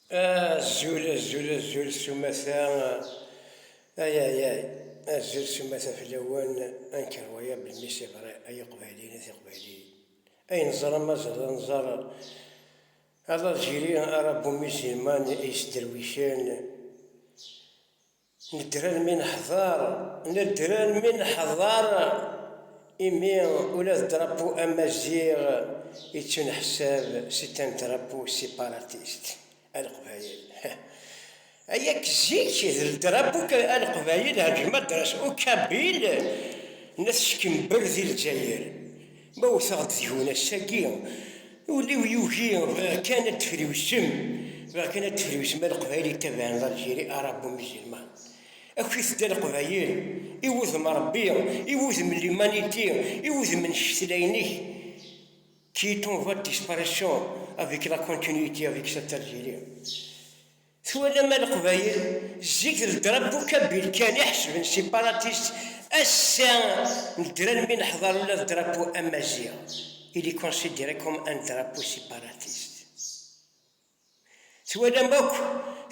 Azul, azul, azul s umata, ayayay, azul s umata fell-awen, anker waya belmi s iḍri, ay iqbayliyen, ay tiqbayliyin, ay neẓra mazal d anẓar, a l'Algérie, a Rabbu Musulman, ay isderwicen, Nedder armi neḥḍer, nedder armi neḥḍer, imi ula d drapeau amaziɣ yettuneḥsab c'est un drapeau séparatiste, a Leqbayel. Aya k zik d drapeau k a Leqbayel, rejma dras u Kabil n at Ckember di Lezzayer. Ma wwteɣ-d deg-wen ass-agi, ul-iw yugi, bɣiɣ kan ad d-friwsem, bɣiɣ kan ad d-friwsem a Leqbayel yettabaɛen d Algérie Arabo Musulman. Akk i tedda Leqbayel, i wudem Rebbi, i wudem l'humanité, i wudem n ccetla-inek, qui est en voie de disparition avec la continuité avec cette Algérie. Twalam a leqbayel, zik d drapeau kabyle kan i ḥesben separatist, ass-a nedren mi neḥḍer ula d drapeau amaziɣ il est considéré comme un drapeau separatist. Twalam akk,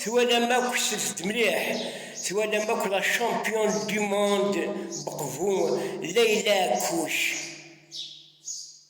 twalam akk, slet-d mliḥ, twalam akk la championne du monde beqbu Leyla Kouch.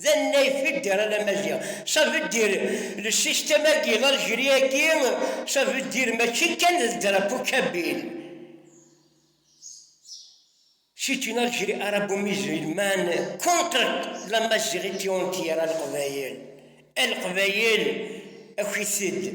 D annay fidder a la Maziɣ. Ça veut dire le système agi, l'Algérie agi, ça veut dire mačči kan d drapeau kabyle. C'est une Algérie arabo-musulmane contre la maziɣiti entière a Leqbayel. A Leqbayel, akit-d.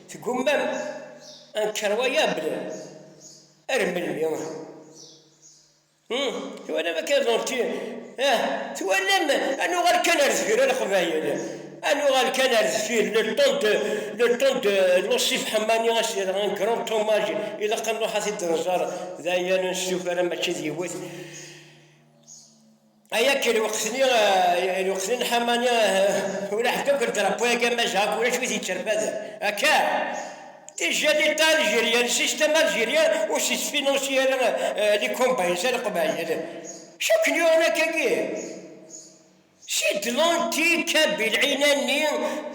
Tgummam anker waya bla ar melmi? Hum, twalam akka ẓurti, ah, twalam ad nuɣal kan ar zger a leqbayel, ad nuɣal kan ar zfir, le temps de, le temps de Lusif Ḥemmani a s-yerɣ un grand hommage, ilaq ad nruḥ ad t-id-nẓer, d aya ur nestufa ara mačči d yiwet. Aya ke lweqt-nni, lweqt-nni n Ḥamani, ula ḥedd akk n drapo-agi am Majaha akk ulac wid yetterfaden. Akka! Des jadit algérien, le système algérien où se financier les combines à l'Qbayel. Cukk yuɣen akkagi. Si de l'antique, Kabil, Inani,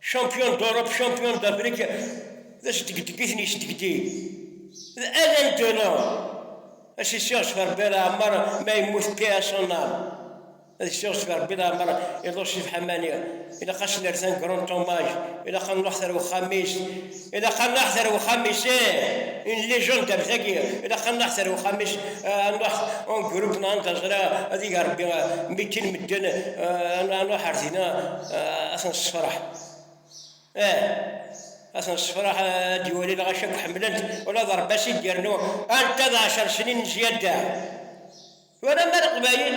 Champion d'Europe, champion d'Afrique, d asdegdeg-iten yesdegdeg. D Alain Delon, asisiɣ s Rebbi Laɛmer, ma yemmut paix à son âme. Ad isiɣ s Rebbi Laɛmer, iḍul si Bḥamani, ilaq ad s-nerr-t un grand hommage, ilaq ad nruḥ ar uxxam-is, Ilaq a nṛuḥ ar wexxam-is. Une légende ar tagi, ilaq a nṛuḥ ar wexxam-is, a nṛuḥ en groupe neɣ anda ẓriɣ ad ig Ṛebbi mi kkin medden, a nṛuḥ ar dina a ten-ssefṛeḥ. Ih, a ten-ssefṛeḥ, a d-iwali lɣaci akk ḥemmlen-t, ula d Ṛebbi a s-id-yernu anta d ɛecṛ snin n zyadda. Twalam a Leqbayel?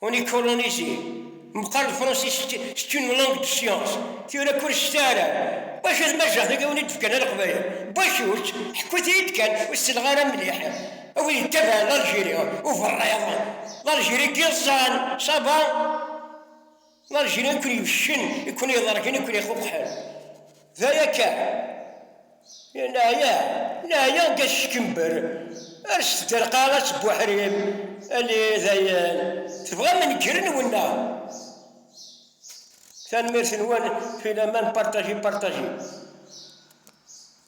On est colonisé. Meqqar lefransis c'est une langue de science. Tura kul ccta ara. Wac ad majaɣ tagi wen i d-fkan ar qbayl. Wac uč, ḥkut-iyi-d kan, ur selleɣ ara mliḥ. A win yettabaɛen Algérie, uberriḍ. Algérie n yiẓẓan, ça va? Algérie i ken-yefcen, i ken-iḍergen, i ken-ixuqḥen. D aya kan. Neɛya, neɛya deg at Ckember, rret-d ar lqaɛa s buḥrim, ali dayen, tebɣam negren-wen neɣ? Tanemmirt-nwen, filaman, partager, partager.